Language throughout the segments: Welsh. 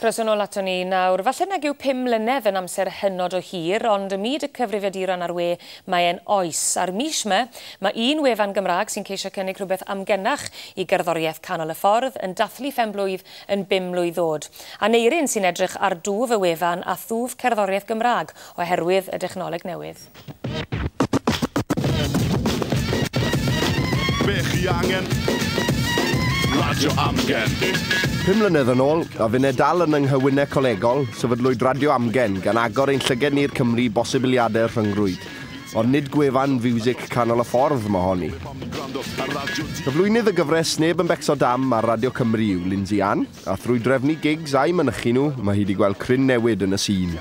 Croeso yn ôl aton ni. Nawr, falle nag yw pum mlynedd yn amser hynod o hir, ond ym myd y cyfrifiaduron a'r we, mae e'n oes. A'r mis 'ma, mae un wefan Gymraeg sy'n ceisio cynnig rhywbeth amgenach i gerddoriaeth canol y ffordd yn dathlu phen-blwydd yn bum mlwydd ddod. Aneurin sy'n edrych ar dwf y wefan a thwf cerddoriaeth Gymraeg oherwydd y dechnoleg newydd. Be chi angen? Radio Amgen. Pum mlynedd yn ôl, a finne dal yn yng nghywyne colegol, sefydlwyd Radio Amgen gan agor ein llyged ni'r Cymru bosibiliadau rhyngrwyd. Ond nid gwefan fiwsic canol y ffordd mae honi. Cyflwynydd y gyfres Neb yn Becso Dam ar Radio Cymru yw Lindsay Ann. A thrwy drefnu gigs a'u mynychu nhw, mae hi 'di gweld cryn newid yn y sîn.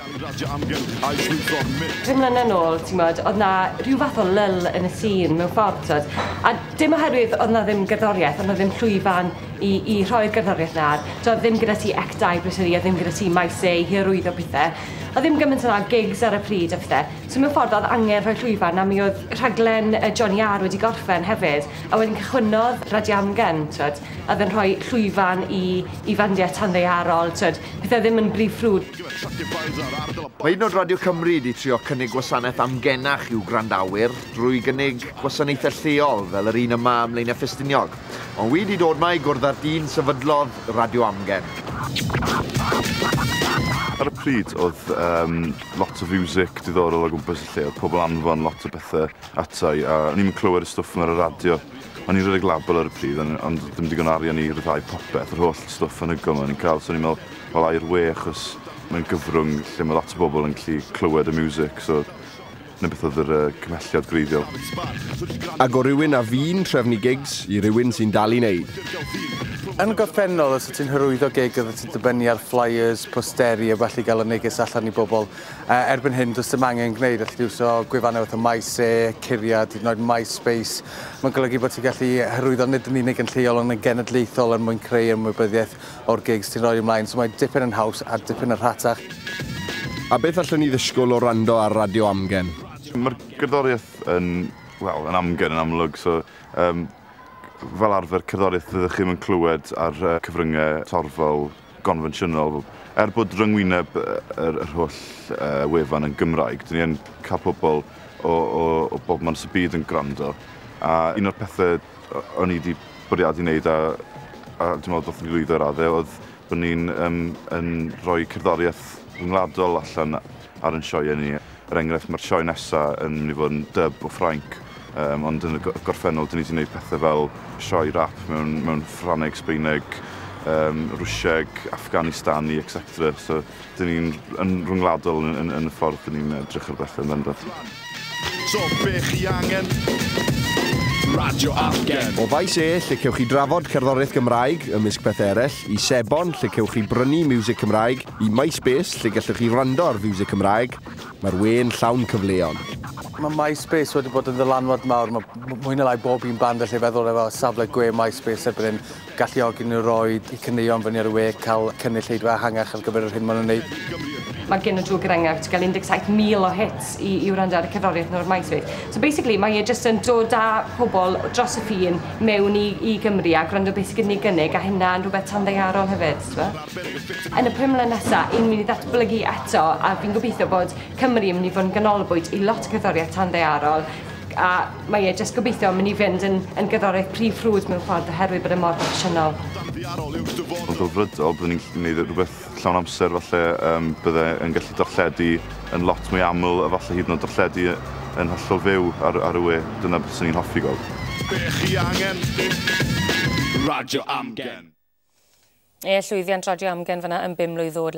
Pum mlynedd nôl, timod, oedd 'na ryw fath o lull yn y sîn mewn ffordd, t'od? A dim oherwydd oedd 'na ddim gerddoriaeth, oedd 'na ddim llwyfan i i rhoi'r gerddoriaeth 'na, t'od, oedd ddim gyda ti Act Dau bryd hynny, oedd ddim gyda ti Maes A i hyrwyddo pethe. Oedd ddim gymaint o 'na o gigs ar y pryd a phethe. So mewn ffordd oedd angen rhoi llwyfan a mi oedd rhaglen yy Johnny Arr wedi gorffen hefyd a wedyn cychwynnodd Radio Amgen, t'od? a oedd e'n rhoi llwyfan i i fandiau tanddaearol, tibod, pethau ddim yn rhy frwd. Mae hyd yn oed Radio Cymru wedi trio cynnig gwasanaeth amgenach i'w gwrandawyr drwy gynnig gwasanaethau lleol fel yr un yma ym Mlaenau Ffestiniog, ond wedi dod 'ma i gwrdd â'r dyn sefydlodd Radio Amgen. Ar y pryd oedd um, lot o fiwsic diddorol o gwmpas y lle, oedd pobl anfon lot o bethau atai a o'n i'n clywed y stwff yma ar y radio. O'n i'n rhedeg label ar y pryd on- ond do'dd dim digon o arian i ryddhau popeth, yr holl stwff anhygoel 'ma o'n i'n ca'l so o'n i'n me'wl wel ai'r we achos mae'n gyfrwng lle ma' lot o bobol yn gallu clywed y miwsic so 'na beth odd yr yy cymhelliad gwreiddiol. Ag o rywun a fu'n trefnu gigs i rywun sy'n dal i neud. Yn gorffennol os wt ti'n hyrwyddo gig oddet ti'n dibynnu ar flyers, posteri a ballu i ga'l y neges allan i bobol, Erbyn hyn, does dim angen gwneud allu di iwso gwefannau fatha MySe, Curiad, hyd yn oed MySpace. Mae'n golygu bod ti'n gallu hyrwyddo nid yn unig yn lleol ond yn genedlaethol er mwyn creu ymwybyddiaeth o'r gigs ti'n rhoi ymlaen, so mae'n dipyn yn haws a dipyn yn rhatach. A beth allwn ni ddisgwyl o wrando ar Radio Amgen? Mae'r gerddoriaeth yn, wel, yn amgen yn amlwg, so fel arfer cerddoriaeth fyddwch chi ddim yn clywed ar cyfryngau torfol. gonfensiynol. Er bod rhyngwyneb yr, yr holl uh, wefan yn Gymraeg, dyn ni yn cael pobl o, o, o bob man sy'n byd yn gwrando. A un o'r pethau o'n i wedi bwriadu wneud, a, a dwi'n meddwl bod ni'n lwyddo ar adde, oedd bod ni'n um, yn rhoi cerddoriaeth ryngwladol allan ar yn sioeau ni. Er enghraifft, mae'r sioe nesaf yn mynd i fod yn dyb o Ffrainc, um, ond yn y gorffennol, dyn ni wedi gwneud pethau fel sioe rap mewn, mewn Ffraneg, Sbeineg, um, Rwsieg, Afghanistani, etc. So, dyn ni'n yn rhwngwladol yn, yn, yn y ffordd dyn ni'n edrych ar bethau yn bendant. So, be chi angen? Radio Afgen. O Faes E, lle cewch chi drafod cerddoriaeth Gymraeg, ymysg pethau eraill, i Sebon, lle cewch chi brynu music Cymraeg, Ym MySpace, lle gellwch chi wrando ar fiwsig Cymraeg, mae'r we'n llawn cyfleon. Mae MySpace wedi bod yn ddylanwad mawr, mae mwy na lai bob un band allai feddwl efo safle gwe MySpace erbyn hyn, galluogi nhw roi i caneuon fyny ar y we, cael cynulleidfa ehangach ar gyfer yr hyn maen nhw'n wneud. Mae gen y drwg er enghraifft gael 17,000 o hits i i wrando ar y cerddoriaeth nhw ar MySpace. So basically mae e jyst yn dod â pobl dros y ffin mewn i i Gymru a gwrando beth sy gyda ni gynnig a hynna'n rhywbeth tanddaearol hefyd, t'bo? Yn y pum mlynedd nesa, yn mynd i ddatblygu eto a fi'n gobeithio bod Cymru yn mynd i fod yn ganolbwynt i lot o gerddoriaeth tanddaearol a mae e jyst gobeithio yn mynd i fynd yn, yn gerddoriaeth prif ffrwd mewn ffordd oherwydd bod e mor broffesiynol. Yn ddelfrydol, byddwn i'n gallu gwneud rhywbeth llawn amser falle, um, bydde yn gallu darlledu yn lot mwy aml, efallai hyd yn oed darlledu yn hollol fyw ar, ar y we, dyna beth sy'n i'n hoffi gweld. Be chi angen? Radio Amgen. Ie, llwyddiant Radio Amgen fyna yn bum mlwydd ddod.